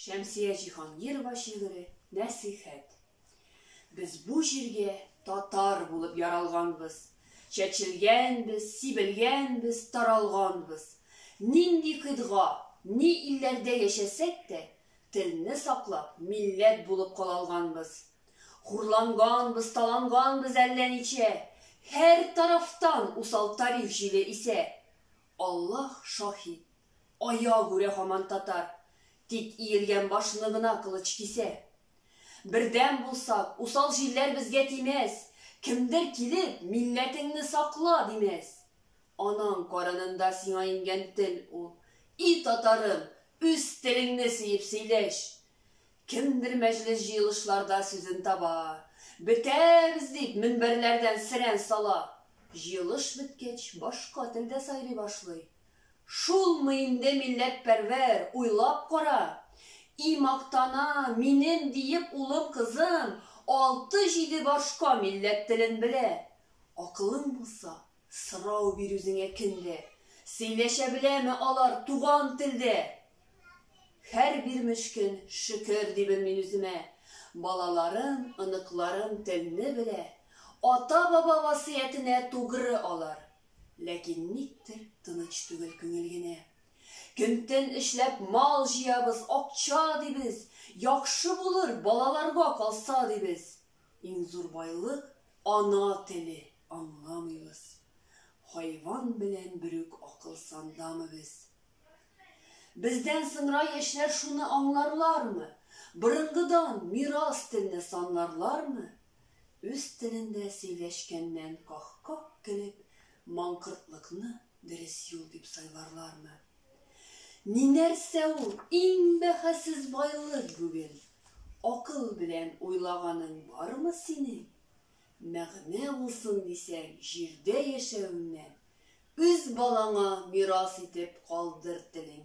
Шәмсия Җиһангирова шигыре Нәсыйхәт. Без бу җиргә татар булып яралганбыз. Чәчелгәнбез, сибелгәнбез, таралганбыз. Нинди кыйтга, ни илләрдә яшәсәк тә, телне саклап, милләт булып калалганбыз. Хурланганбыз, таланганбыз әллә ничә. Һәр тарафтан усал тарих җиле исә. Аллаһ шаһит, аягүрә һаман татар, тик иелгән башны гына кылыч кисә. Бердәм булсак, усал җилләр безгә тимәс, кемдер килеп, милләтеңне сакла, димәс. Анаң карынында сиңа иңгән тел ул. И татарым, үз телеңне сөеп сөйләш! Кемдер мәҗлес-җыелышларда сүзен таба, Бетәбез! дип, мөнбәрләрдән серән сала. Җыелыш беткәч, башка телдә сайрый башлый. Шулмы инде милләтпәрвәр, уйлап кара! И мактана, минем диеп улым-кызым алты-җиде башка милләт телен белә! Акылың булса, сорау бир үзеңә кемдә, Сөйләшә беләме алар туган телдә? Хәр бир мөшкен, шөкер, дибен мин үземә. Балаларым, оныкларым телне белә, ата-баба васыятенә тугры алар. Ләкин никтер тыныч түгел күңел генә. Көн-төн эшләп мал җыябыз, акча дибез, яхшы булыр, балаларга калса дибез. Иң зур байлык, ана теле, аңламыйбыз. Хайван белән берүк акыл сандамы без. Бездән соңра яшьләр шуны аңларлармы? Борынгыдан мирас телне санларлармы? Үз телендә сөйләшкәннән ках-ках көлеп, маңкортлыкны дөрес юл дип сайларлармы? Ни нәрсә ул иң бәһасез байлык бүген? Акыл белән уйлаганың бармы синең? мәгънә булсын дисәң, җирдә яшәвеңне үз балаңа мирас итеп калдыр телим.